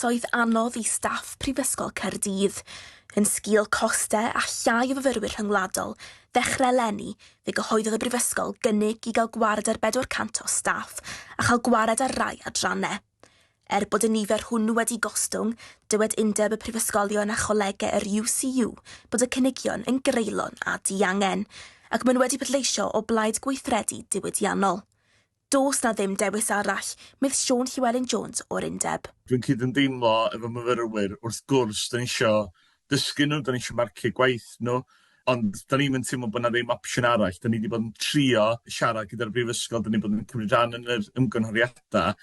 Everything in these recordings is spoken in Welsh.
oedd anodd i staff Prifysgol Caerdydd, yn sgil costau a llai o fyfyrwyr rhyngwladol, ddechrau eleni, fe gyhoeddodd y Brifysgol gynnig i gael gwared ar 400 o staff a chael gwared ar rai adrannau. Er bod y nifer hwnnw wedi gostwng, dywed Undeb y Prifysgolion a Cholegau yr UCU bod y cynigion yn greulon a diangen, ac maen nhw wedi pleidleisio o blaid gweithredu diwydiannol. Does 'na ddim dewis arall, medd Siôn Llewelyn Jones o'r Undeb. Dwi'n cydymdeimlo efo myfyrwyr, wrth gwrs, 'dan ni isio dysgu nhw, 'dan ni isio marcio gwaith nhw, ond 'dan ni'm yn teimlo bod 'na ddim opsiwn arall. 'Dan ni 'di bod yn trio siarad gyda'r brifysgol, 'dan ni bod yn cymryd rhan yn yr ymgynghoriadau,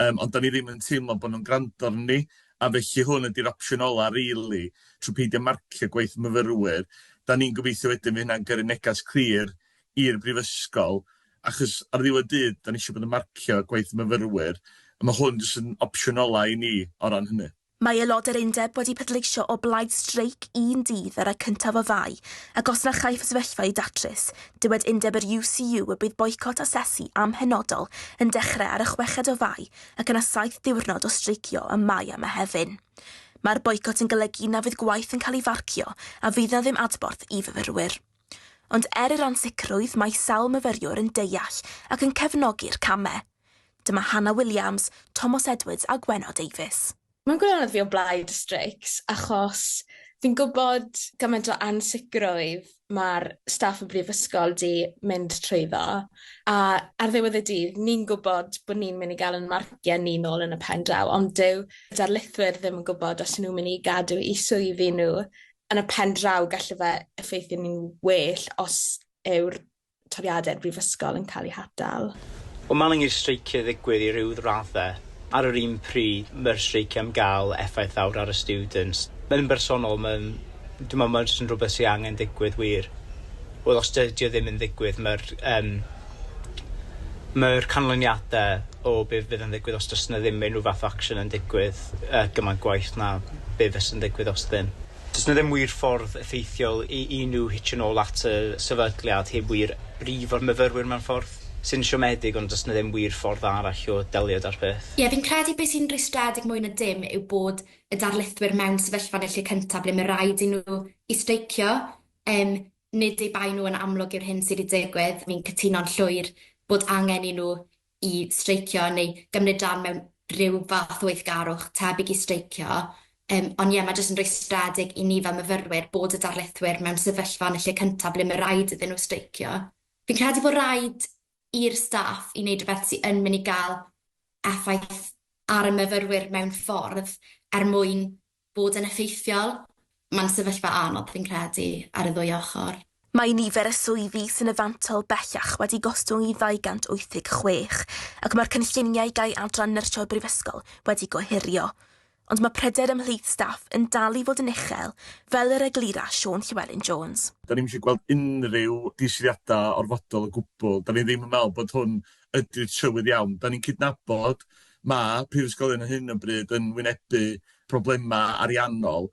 yym, ond 'dan ni ddim yn teimlo bod nhw'n gwrando arnon a felly hwn ydy'r opsiwn ola' rili, trwy peidio marcio gwaith myfyrwyr. 'Dan ni'n gobeithio wedyn fydd hynna'n gyrru neges clir i'r brifysgol, achos ar ddiwedd dydd, dan ni eisiau bod yn marcio gwaith y myfyrwyr, a mae hwn jyst yn opsiwn ola' i ni o ran hynny. Mae aelod yr undeb wedi pleidleisio o blaid streic un dydd ar y cyntaf o Fai, ac os na chaiff y sefyllfa ei datrys, dywed undeb yr UCU y bydd boicot asesu amhenodol yn dechrau ar y chweched o Fai ac yna saith diwrnod o streicio ym Mai a Mehefin. Mae'r boicot yn golygu na fydd gwaith yn cael ei farcio a fydd na ddim adborth i fyfyrwyr. Ond er yr ansicrwydd mae sawl myfyriwr yn deall ac yn cefnogi'r camau. Dyma Hannah Williams, Tomos Edwards a Gwenno Davies. Mae'n gwirionedd fi o blaid y streics achos fi'n gwybod gymaint o ansicrwydd mae'r staff y brifysgol 'di mynd trwyddo a ar ddiwedd y dydd ni'n gwybod bod ni'n mynd i gael ein marciau ni nôl yn y pen draw ond dyw darlithwyr ddim yn gwybod os 'y nhw'n mynd i gadw eu swyddi nhw yn y pen draw gallu fe effeithio ni'n well os yw'r toriadau'r brifysgol yn cael eu hatal. O Maling i'r streicie ddigwydd i ryw raddau ar yr un pryd, mae'r streicie am gael effaith fawr ar y students. Yn bersonol mae'n, dwi'n meddwl mae jyst yn rhywbeth sydd angen digwydd wir. Wel os dydy o ddim yn ddigwydd mae'r yym Mae'r canlyniadau o be fydd yn ddigwydd os does 'na ddim unrhyw fath o action yn digwydd yy gymaint gwaeth na be fyse'n ddigwydd os ydyn. Does 'na ddim wir ffordd effeithiol i i nhw hitio nôl at y sefydliad heb wir brifo'r myfyrwyr mewn ffordd sy'n siomedig ond does 'na ddim wir ffordd arall o delio 'da'r peth. Ie, fi'n credu be sy'n rwystredig mwy na dim yw bod y darlithwyr mewn sefyllfa yn y lle cynta' ble mae raid i nhw i streicio, yym, Nid eu bai nhw yn amlwg yw'r hyn sydd wedi digwydd. Fi'n cytuno'n llwyr bod angen i nhw i streicio neu gymryd rhan mewn rhyw fath o weithgarwch tebyg i streicio. Yym, ond ie, mae jyst yn rwystredig i ni fel myfyrwyr bod y darlithwyr mewn sefyllfa yn y lle cyntaf ble mae rhaid iddyn nhw streicio. Fi'n credu bod rhaid i'r staff i wneud rhywbeth sydd yn mynd i gael effaith ar y myfyrwyr mewn ffordd er mwyn Bod yn effeithiol, mae'n sefyllfa anodd fi'n credu, ar y ddwy ochr. Mae nifer y swyddi sy'n y fantol bellach wedi gostwng i 286 ac mae'r cynlluniau gau adran nyrsio'r Brifysgol wedi gohirio. Ond mae pryder ymhlith staff yn dal i fod yn uchel, fel yr eglura Siôn Llewelyn Jones. Dan ni'm eisiau gweld unrhyw diswyddiadau orfodol o gwbl. Dan ni ddim yn meddwl bod hwn ydy'r trywydd iawn. Da ni'n cydnabod mae prifysgolion ar hyn o bryd yn wynebu problemau ariannol,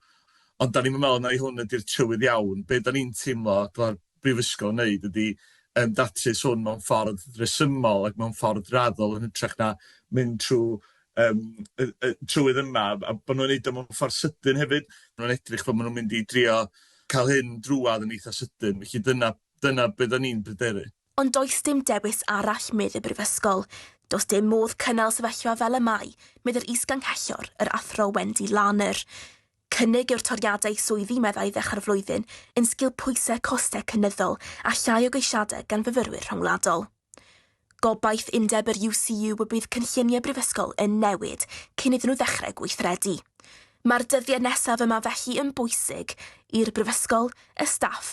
ond da ni'm yn meddwl mai hwn ydy'r trywydd iawn. Be da ni'n teimlo dylai'r brifysgol wneud ydy um, datrys hwn mewn ffordd resymol ac mewn ffordd raddol yn hytrach na mynd trwy um, y, y trywydd yma, a bod nhw'n neud o mewn ffordd sydyn hefyd. Maen nhw'n edrych bod maen nhw'n mynd i drio cael hyn drwad yn eitha sydyn, felly dyna, dyna beth da ni'n bryderu. Ond does dim dewis arall, medd y Brifysgol. Does dim modd cynnal sefyllfa fel y mae, medd yr Is-Ganghellor, yr Athro Wendy Larner. Cynnig yw'r toriadau swyddi meddai ddechrau'r flwyddyn yn sgil pwysau costau cynyddol a llai o geisiadau gan fyfyrwyr rhyngwladol. Gobaith undeb yr UCU y bydd cynlluniau Brifysgol yn newid cyn iddyn nhw ddechrau gweithredu. Mae'r dyddiau nesaf yma felly yn bwysig i'r Brifysgol, y staff